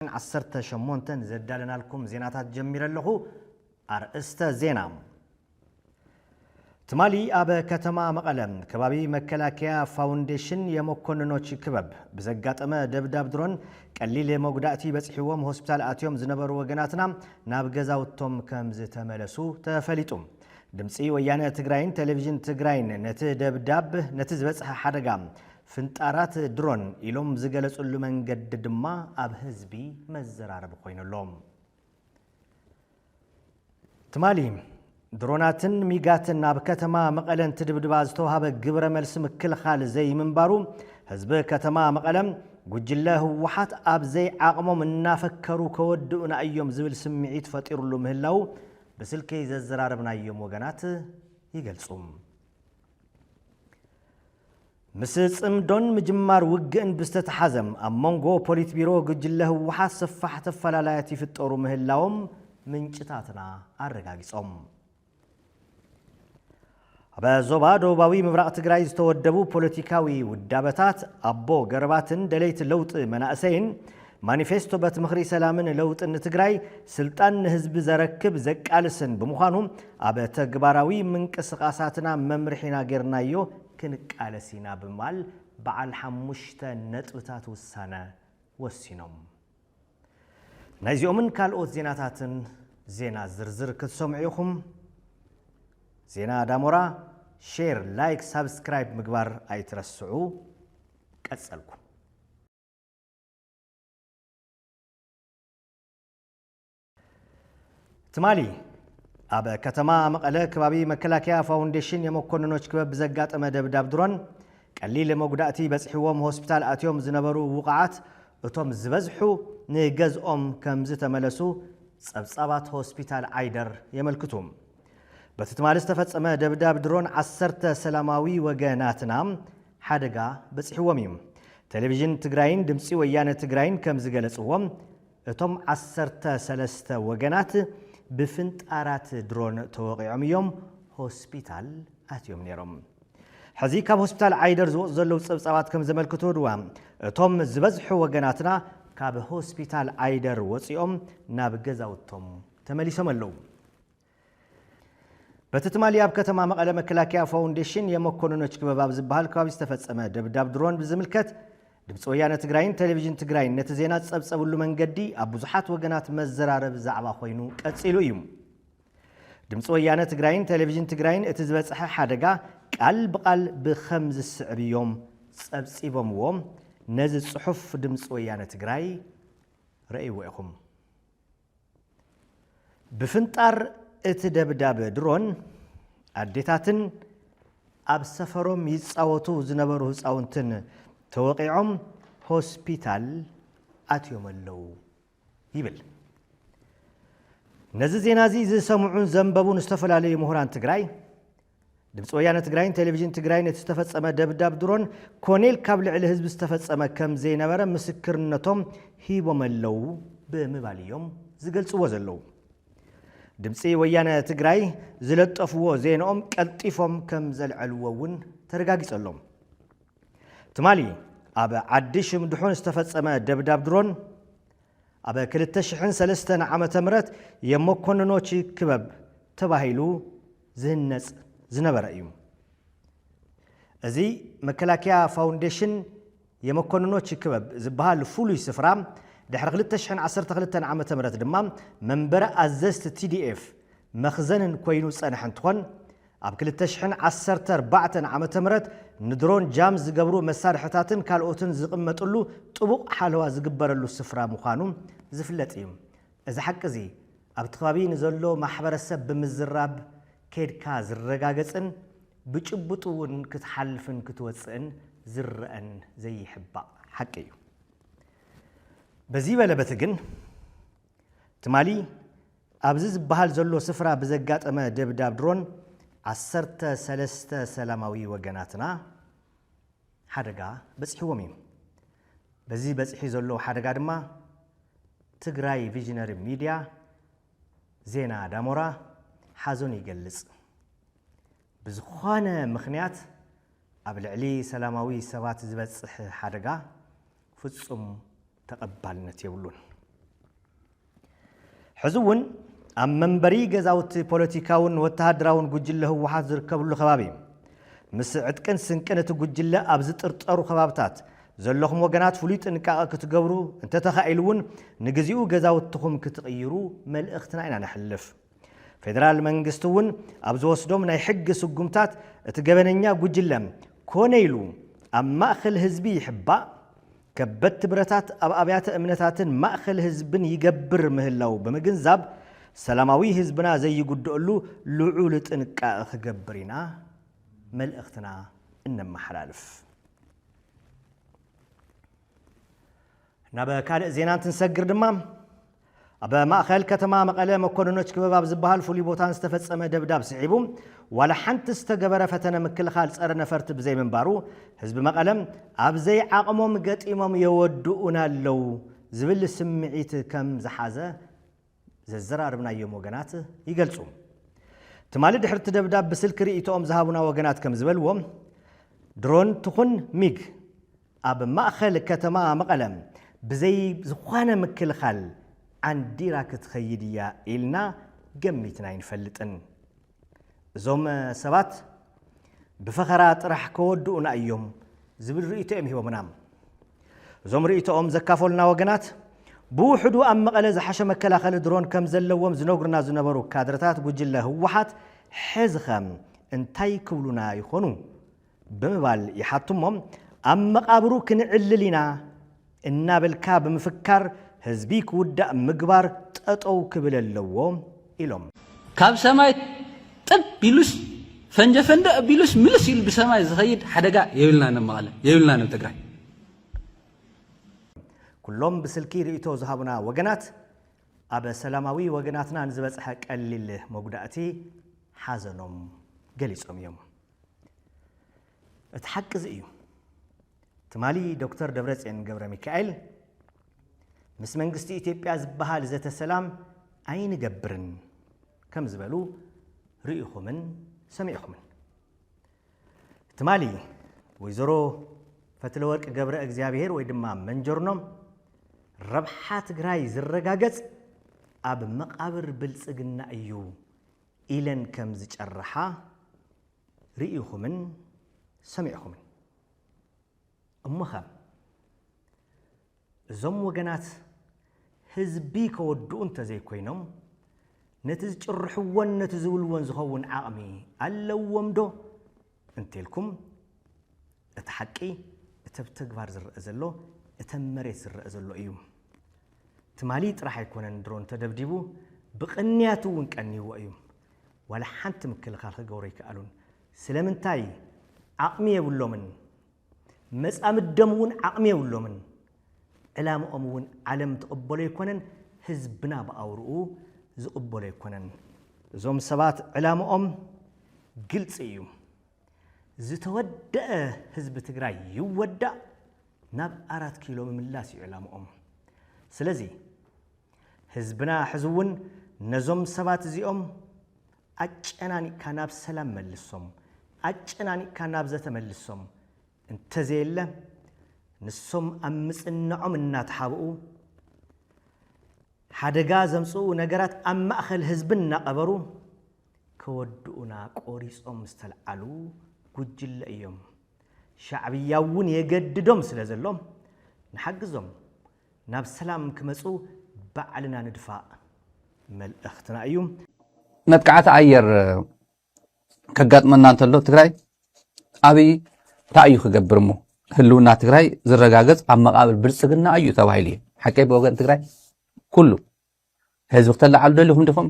ክፋል ዓሰርተ ሸሞንተ ንዘዳለናልኩም ዜናታት ጀሚረ ኣለኹ። ኣርእስተ ዜና፣ ትማሊ ኣብ ከተማ መቐለ ከባቢ መከላከያ ፋውንዴሽን የመኮንኖች ክበብ ብዘጋጠመ ደብዳብ ድሮን ቀሊል መጉዳእቲ በፂሕዎም ሆስፒታል ኣትዮም ዝነበሩ ወገናትና ናብ ገዛውቶም ከምዝተመለሱ ተፈሊጡ። ድምፂ ወያነ ትግራይን ቴሌቪዥን ትግራይን ነቲ ደብዳብ ነቲ ዝበፅሐ ሓደጋ ፍንጣራት ድሮን ኢሎም ዝገለፅሉ መንገዲ ድማ ኣብ ህዝቢ መዘራረቢ ኮይኑ ኣሎ። ትማሊ ድሮናትን ሚጋትን ኣብ ከተማ መቐለ እንትድብድባ ዝተውሃበ ግብረ መልሲ ምክልኻል ዘይምንባሩ ህዝቢ ከተማ መቐለ ጉጅለ ህወሓት ኣብ ዘይዓቕሞም እናፈከሩ ከወድኡና እዮም ዝብል ስምዒት ፈጢሩሉ ምህላው ብስልኪ ዘዘራረብናዮም ወገናት ይገልፁ። ምስ ጽምዶን ምጅማር ውግእን ብዝተተሓዘ ኣብ መንጎ ፖሊት ቢሮ ጉጅለ ህወሓት ሰፋሕቲ ኣፈላላያት ይፍጠሩ ምህላዎም ምንጭታትና ኣረጋጊጾም። ኣብ ዞባ ደቡባዊ ምብራቕ ትግራይ ዝተወደቡ ፖለቲካዊ ውዳበታት ኣቦ ገረባትን ደለይቲ ለውጢ መናእሰይን ማኒፌስቶ በት ምኽሪ ሰላምን ለውጥን ንትግራይ ስልጣን ንህዝቢ ዘረክብ ዘቃልስን ብምዃኑ ኣብ ተግባራዊ ምንቅስቓሳትና መምርሒና ገይርናዮ ክንቃለስ ኢና ብምባል በዓል ሓሙሽተ ነጥብታት ውሳነ ወሲኖም። ናይዚኦምን ካልኦት ዜናታትን ዜና ዝርዝር ክትሰምዑ ኢኹም። ዜና ዳሞራ ሼር፣ ላይክ፣ ሳብስክራይብ ምግባር ኣይትረስዑ። ቀጸልኩ። ትማሊ ኣብ ከተማ መቐለ ከባቢ መከላከያ ፋውንዴሽን የመኮንኖች ክበብ ብዘጋጠመ ደብዳብ ድሮን ቀሊል መጉዳእቲ በፅሒዎም ሆስፒታል ኣትዮም ዝነበሩ ውቕዓት እቶም ዝበዝሑ ንገዝኦም ከም ዝተመለሱ ፀብፃባት ሆስፒታል ዓይደር የመልክቱ። በቲ ትማሊ ዝተፈጸመ ደብዳብ ድሮን ዓሰርተ ሰላማዊ ወገ ናትና ሓደጋ በጺሕዎም እዩ። ቴሌቪዥን ትግራይን ድምጺ ወያነ ትግራይን ከም ዝገለጽዎ እቶም ዓሰርተ ሰለስተ ወገናት ብፍንጣራት ድሮን ተወቒዖም እዮም ሆስፒታል ኣትዮም ነይሮም። ሕዚ ካብ ሆስፒታል ዓይደር ዝወፁ ዘለዉ ፀብፃባት ከም ዘመልክቶ ድዋ እቶም ዝበዝሑ ወገናትና ካብ ሆስፒታል ዓይደር ወፂኦም ናብ ገዛውቶም ተመሊሶም ኣለዉ። በቲ ትማሊ ኣብ ከተማ መቐለ መከላከያ ፋውንዴሽን የመኮንኖች ክበብ ኣብ ዝበሃል ከባቢ ዝተፈፀመ ደብዳብ ድሮን ብዝምልከት ድምፂ ወያነ ትግራይን ቴሌቪዥን ትግራይን ነቲ ዜና ዝፀብፀብሉ መንገዲ ኣብ ብዙሓት ወገናት መዘራረቢ ዛዕባ ኮይኑ ቀፂሉ እዩ። ድምፂ ወያነ ትግራይን ቴሌቪዥን ትግራይን እቲ ዝበፅሐ ሓደጋ ቃል ብቓል ብኸም ዝስዕብ እዮም ፀብፂቦምዎ። ነዚ ፅሑፍ ድምፂ ወያነ ትግራይ ረእይዎ ኢኹም። ብፍንጣር እቲ ደብዳብ ድሮን፣ ኣዴታትን ኣብ ሰፈሮም ይጻወቱ ዝነበሩ ህጻውንትን ተወቒዖም ሆስፒታል ኣትዮም'ለው ይብል። ነዚ ዜና'ዚ ዝሰምዑን ዘንበቡን ዝተፈላለዩ ምሁራን ትግራይ፣ ድምፂ ወያነ ትግራይን ቴሌቪዥን ትግራይን እቲ ዝተፈፀመ ደብዳብ ድሮን ኮኔል ካብ ልዕሊ ህዝቢ ዝተፈፀመ ከም ዘይነበረ ምስክርነቶም ሂቦመለዉ ብምባል እዮም ዝገልፅዎ ዘለዉ። ድምፂ ወያነ ትግራይ ዝለጠፍዎ ዜንኦም ቀልጢፎም ከም ዘልዐልዎ እውን ተረጋጊፀሎም። ትማሊ ኣብ ዓዲ ሽምድሑን ዝተፈፀመ ደብዳብ ድሮን ኣብ 2003 ዓ ም የመኮንኖች ክበብ ተባሂሉ ዝህነፅ ዝነበረ እዩ። እዚ መከላከያ ፋውንዴሽን የመኮንኖች ይክበብ ዝበሃል ፍሉይ ስፍራ ድሕሪ ክልተ ሽሕን ዓሰርተ ክልተን ዓመተ ምህረት ድማ መንበረ ኣዘዝቲ TDF መኽዘንን ኮይኑ ዝፀንሐ እንትኾን ኣብ ክልተ ሽሕን ዓሰርተ ኣርባዕተን ዓመተ ምህረት ንድሮን ጃም ዝገብሩ መሳርሕታትን ካልኦትን ዝቕመጥሉ ጥቡቕ ሓለዋ ዝግበረሉ ስፍራ ምዃኑ ዝፍለጥ እዩ። እዚ ሓቂ እዚ ኣብቲ ከባቢ ንዘሎ ማሕበረሰብ ብምዝራብ ከይድካ ዝረጋገፅን ብጭቡጥ እውን ክትሓልፍን ክትወፅእን ዝረኣን ዘይሕባእ ሓቂ እዩ። በዚ በለ በቲ ግን ትማሊ ኣብዚ ዝበሃል ዘሎ ስፍራ ብዘጋጠመ ደብዳብ ድሮን ዓሰርተ ሰለስተ ሰላማዊ ወገናትና ሓደጋ በፂሕዎም እዩ። በዚ በፂሒ ዘሎ ሓደጋ ድማ ትግራይ ቪዥነሪ ሚድያ ዜና ዳሞራ ሓዘኑ ይገልፅ። ብዝኾነ ምኽንያት ኣብ ልዕሊ ሰላማዊ ሰባት ዝበፅሕ ሓደጋ ፍፁም ተቐባልነት የብሉን። ሕዚ እውን ኣብ መንበሪ ገዛውቲ ፖለቲካውን ወተሃደራውን ጉጅለ ህወሓት ዝርከብሉ ከባቢ ምስ ዕጥቅን ስንቅን እቲ ጉጅለ ኣብ ዝጥርጠሩ ከባብታት ዘለኹም ወገናት ፍሉይ ጥንቃቐ ክትገብሩ እንተተኻኢሉ እውን ንግዚኡ ገዛውትኹም ክትቕይሩ መልእኽትና ኢና ነሕልፍ። ፌደራል መንግስቲ እውን ኣብ ዝወስዶም ናይ ሕጊ ስጉምታት እቲ ገበነኛ ጉጅለ ኮነ ኢሉ ኣብ ማእኸል ህዝቢ ይሕባእ፣ ከበድቲ ብረታት ኣብ ኣብያተ እምነታትን ማእኸል ህዝብን ይገብር ምህላዉ ብምግንዛብ ሰላማዊ ህዝብና ዘይጉደኣሉ ልዑል ጥንቃቐ ክገብር ኢና መልእኽትና እነመሓላልፍ። ናብ ካልእ ዜና እንትንሰግር ድማ ኣብ ማእኸል ከተማ መቐለ መኮንኖች ክበብ ኣብ ዝበሃል ፍሉይ ቦታ ዝተፈፀመ ደብዳብ ስዒቡ ዋላ ሓንቲ ዝተገበረ ፈተነ ምክልኻል ፀረ ነፈርቲ ብዘይምንባሩ ህዝቢ መቐለ ኣብ ዘይዓቕሞም ገጢሞም የወድኡና ኣለው ዝብል ስምዒት ከም ዝሓዘ ዘዘራርብናዮም ወገናት ይገልጹ። ትማሊ ድሕሪ እቲ ደብዳብ ብስልኪ ርእይቶኦም ዝሃቡና ወገናት ከም ዝበልዎ፣ ድሮን ትኹን ሚግ ኣብ ማእኸል ከተማ መቐለ ብዘይ ዝኾነ ምክልኻል ዓንዲራ ክትኸይድ እያ ኢልና ገሚትና ኣይንፈልጥን። እዞም ሰባት ብፈኸራ ጥራሕ ከወድኡና እዮም ዝብል ርእይቶ እዮም ሂቦምና። እዞም ርእይቶኦም ዘካፈሉና ወገናት ብውሕዱ ኣብ መቐለ ዝሓሸ መከላኸሊ ድሮን ከም ዘለዎም ዝነግሩና ዝነበሩ ካድረታት ጉጅለ ህወሓት ሕዚኸ እንታይ ክብሉና ይኾኑ ብምባል ይሓቱ'ሞ፣ ኣብ መቓብሩ ክንዕልል ኢና እናበልካ ብምፍካር ህዝቢ ክውዳእ ምግባር ጠጠው ክብል ኣለዎ ኢሎም። ካብ ሰማይ ጥብ ኢሉስ ፈንጀፈንደ ኣቢሉስ ምልስ ኢሉ ብሰማይ ዝኸይድ ሓደጋ የብልናን ኣብ መቐለ፣ የብልናን ኣብ ትግራይ። ኩሎም ብስልኪ ርእይቶ ዝሃቡና ወገናት፣ ኣብ ሰላማዊ ወገናትና ንዝበፅሐ ቀሊል መጉዳእቲ ሓዘኖም ገሊፆም እዮም። እቲ ሓቂ እዚ እዩ። ትማሊ ዶክተር ደብረጽዮን ገብረሚካኤል ምስ መንግስቲ ኢትዮጵያ ዝበሃል ዘተ ሰላም ኣይንገብርን ከም ዝበሉ ርኢኹምን ሰሚዕኹምን። ትማሊ ወይዘሮ ፈትለወርቅ ገብረ እግዚኣብሔር ወይ ድማ መንጀርኖም ረብሓ ትግራይ ዝረጋገጽ ኣብ መቓብር ብልጽግና እዩ ኢለን ከም ዝጨርሓ ርእኹምን ሰሚዕኹምን። እሞኸ እዞም ወገናት ህዝቢ ከወድኡ እንተዘይኮይኖም ነቲ ዝጭርሕዎን ነቲ ዝብልዎን ዝኸውን ዓቕሚ ኣለዎምዶ? እንተልኩም እቲ ሓቂ እቲ ኣብ ተግባር ዝረኣ ዘሎ እቲ ኣብ መሬት ዝረኣ ዘሎ እዩ። ትማሊ ጥራሕ ኣይኮነን ድሮን ተደብዲቡ ብቅንያት እውን ቀንይዎ እዩ። ዋላ ሓንቲ ምክልኻል ክገብሩ ኣይከኣሉን። ስለምንታይ? ዓቕሚ የብሎምን። መጻምዶም እውን ዓቕሚ የብሎምን። ዕላምኦም እውን ዓለም ትቕበሎ ኣይኮነን፣ ህዝብና ብኣውርኡ ዝቕበሎ ኣይኮነን። እዞም ሰባት ዕላምኦም ግልፂ እዩ። ዝተወደኣ ህዝቢ ትግራይ ይወዳእ ናብ ኣራት ኪሎ ምምላስ እዩ ዕላምኦም። ስለዚ ህዝብና ሕዚ እውን ነዞም ሰባት እዚኦም ኣጨናኒቕካ ናብ ሰላም መልሶም፣ ኣጨናኒቕካ ናብ ዘተ መልሶም፣ እንተዘየለ ንሶም ኣብ ምጽንዖም እናተሓብኡ፣ ሓደጋ ዘምጽኡ ነገራት ኣብ ማእከል ህዝቢ እናቐበሩ ከወድኡና ቆሪጾም ዝተልዓሉ ጉጅለ እዮም። ሻዕብያ'ውን የገድዶም ስለዘሎ ንሓግዞም፣ ናብ ሰላም ክመጹ ባዕልና ንድፋእ መልእኽትና እዩ። መጥቃዕቲ ኣየር ከጋጥመና እንተሎ ትግራይ ኣብይ እንታይ እዩ ክገብር እሞ ህልውና ትግራይ ዝረጋገፅ ኣብ መቃብር ብልፅግና እዩ ተባሂሉ እዩ ሓቀይ ብወገን ትግራይ ኩሉ ህዝቢ ክተላዓሉ ደሊኹም ዲኹም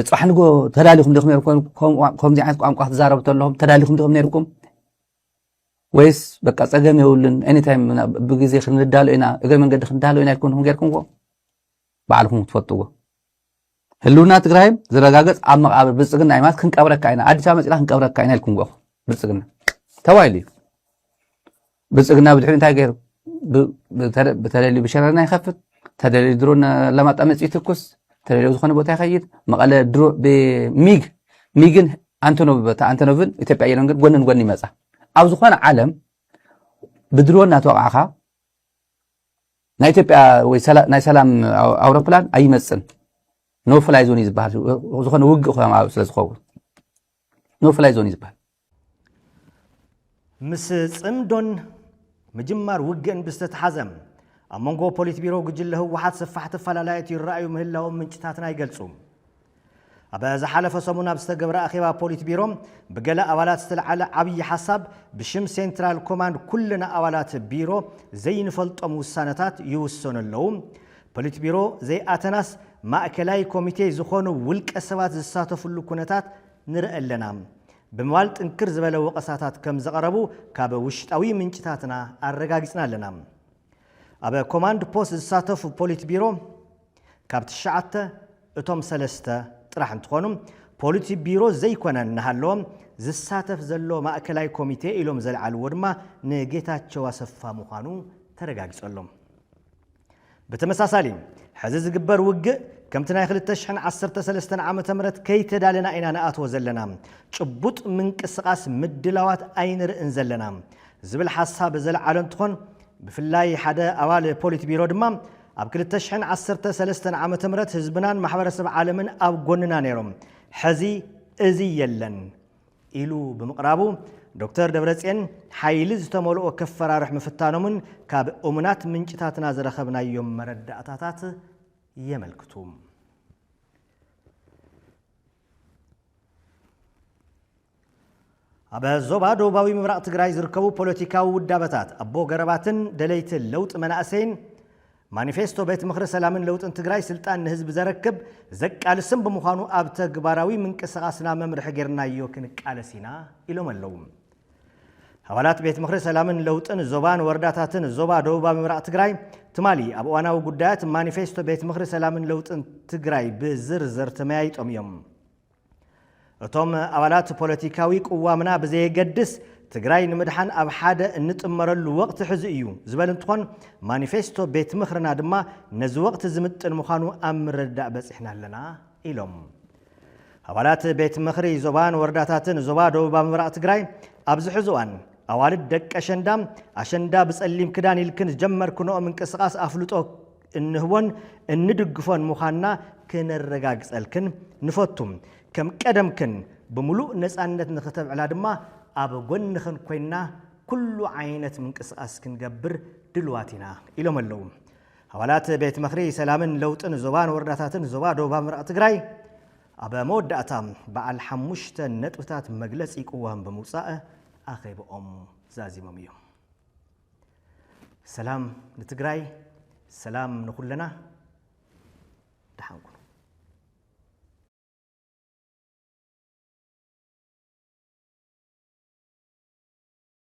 ፅባሕ ንጎ ተዳሊኹም ዲኹም ከምዚ ዓይነት ቋንቋ ክትዛረቡ ተለኹም ተዳሊኹም ዲኹም ነይርኩም ወይስ በቃ ጸገም የብሉን ኤኒታይም ብግዜ ክንዳሎ ኢና እግረ መንገዲ ክንዳሎ ኢና ኢልኩምኩም ጌርኩምዎ ባዕልኩም ትፈልጥዎ ህልውና ትግራይ ዝረጋገፅ ኣብ መቃብር ብልፅግና እዩ ማለት ክንቀብረካ ኢና ኣዲስ ኣበባ መፂና ክንቀብረካ ኢና ኢልኩም ጓኹ ብልፅግና ተባሂሉ እዩ ብልፅግና ብድሕሪ እንታይ ገይሩ ብተደልዩ ብሸረና ይኸፍት ተደልዩ ድሮ ለማጣ መፅኡ ይትኩስ ተደልዩ ዝኾነ ቦታ ይኸይድ መቐለ ድሮ ብሚግ ሚግን ኣንቶኖቭ በታ ኣንቶኖቭን ኢትዮጵያ ኣየርን ግን ጎንን ጎኒ ይመፃ ኣብ ዝኾነ ዓለም ብድሮ እናተወቃዕኻ ናይ ኢትዮጵያ ወይ ናይ ሰላም ኣውሮፕላን ኣይመፅን ኖ ፍላይ ዞን እዩ ዝበሃል ዝኾነ ውግእ ኮ ስለ ዝኸውን ኖ ፍላይ ዞን እዩ ዝበሃል ምስ ጽምዶን ምጅማር ውግእን ብዝተተሓዘ፣ ኣብ መንጎ ፖሊትቢሮ ጉጅለ ህወሓት ሰፋሕቲ ኣፈላላያት ይረኣዩ ምህላዎም ምንጭታትና ይገልጹ። ኣብ ዝሓለፈ ሰሙን ኣብ ዝተገብረ ኣኼባ ፖሊትቢሮ፣ ብገለ ኣባላት ዝተልዓለ ዓብዪ ሓሳብ፣ ብሽም ሴንትራል ኮማንድ ኩልና ኣባላት ቢሮ ዘይንፈልጦም ውሳነታት ይውሰኑ ኣለዉ። ፖሊትቢሮ ዘይኣተናስ ማእከላይ ኮሚቴ ዝኾኑ ውልቀሰባት ዝሳተፍሉ ኩነታት ንርኢ ኣለና። ብምባል ጥንክር ዝበለ ወቐሳታት ከም ዘቐረቡ ካብ ውሽጣዊ ምንጭታትና ኣረጋጊጽና ኣለና። ኣብ ኮማንድ ፖስት ዝሳተፉ ፖሊት ቢሮ ካብ ትሽዓተ እቶም ሰለስተ ጥራሕ እንትኾኑ፣ ፖሊት ቢሮ ዘይኮነ እናሃለወ ዝሳተፍ ዘሎ ማእከላይ ኮሚቴ ኢሎም ዘልዓልዎ ድማ ንጌታቸው ኣሰፋ ምዃኑ ተረጋጊጹ ኣሎ። ብተመሳሳሊ ሕዚ ዝግበር ውግእ ከምቲ ናይ ክልተ ሽሕን ዓሰርተ ሰለስተን ዓመተ ምህረት ከይተዳለና ኢና ንኣትዎ ዘለና፣ ጭቡጥ ምንቅስቓስ ምድላዋት ኣይንርእን ዘለና ዝብል ሓሳብ ዘልዓሉ እንትኾን፣ ብፍላይ ሓደ ኣባል ፖሊት ቢሮ ድማ ኣብ ክልተ ሽሕን ዓሰርተ ሰለስተን ዓመተ ምህረት ህዝብናን ማሕበረሰብ ዓለምን ኣብ ጎንና ነይሮም፣ ሕዚ እዚ የለን። ኢሉ ብምቕራቡ ዶክተር ደብረፅዮን ሓይሊ ዝተመልኦ ከፈራርሕ ምፍታኖምን ካብ እሙናት ምንጭታትና ዝረኸብናዮም መረዳእታታት የመልክቱ። ኣብ ዞባ ደቡባዊ ምብራቕ ትግራይ ዝርከቡ ፖለቲካዊ ውዳበታት ኣቦ ገረባትን ደለይቲ ለውጢ መናእሰይን ማኒፌስቶ ቤት ምኽሪ ሰላምን ለውጥን ትግራይ ስልጣን ንህዝቢ ዘረክብ፣ ዘቃልስን ብምዃኑ ኣብ ተግባራዊ ምንቅስቓስና መምርሒ ገይርናዮ ክንቃለስ ኢና ኢሎም ኣለው። ኣባላት ቤት ምኽሪ ሰላምን ለውጥን ዞባን ወረዳታትን ዞባ ደቡባ ምብራቕ ትግራይ ትማሊ ኣብ እዋናዊ ጉዳያት ማኒፌስቶ ቤት ምኽሪ ሰላምን ለውጥን ትግራይ ብዝርዝር ተመያይጦም እዮም። እቶም ኣባላት ፖለቲካዊ ቅዋምና ብዘየገድስ ትግራይ ንምድሓን ኣብ ሓደ እንጥመረሉ ወቕቲ ሕዚ እዩ ዝበል እንትኾን ማኒፌስቶ ቤት ምኽርና ድማ ነዚ ወቕቲ ዝምጥን ምዃኑ ኣብ ምርድዳእ በፂሕና ኣለና ኢሎም። ኣባላት ቤት ምኽሪ ዞባን ወረዳታትን ዞባ ደቡባ ምብራቕ ትግራይ ኣብዚ ሕዚ እዋን ኣዋልድ ደቂ ኣሸንዳ ኣሸንዳ ብፀሊም ክዳን ኢልክን ዝጀመርክንኦ ምንቅስቓስ ኣፍልጦ እንህቦን እንድግፎን ምዃንና ክነረጋግጸልክን ንፈቱ። ከም ቀደምክን ብምሉእ ነጻነት ንክተብዕላ ድማ ኣብ ጎንኽን ኮይንና ኩሉ ዓይነት ምንቅስቓስ ክንገብር ድልዋት ኢና ኢሎም ኣለው። ኣባላት ቤት ምኽሪ ሰላምን ለውጥን ዞባን ወረዳታትን ዞባ ደቡባ ምብራቕ ትግራይ ኣብ መወዳእታ በዓል ሓሙሽተ ነጥብታት መግለፂ ቅዋም ብምውፃእ ኣኼብኦም ዛዚሞም እዮም። ሰላም ንትግራይ ሰላም ንኹለና ደሓን ኩኑ።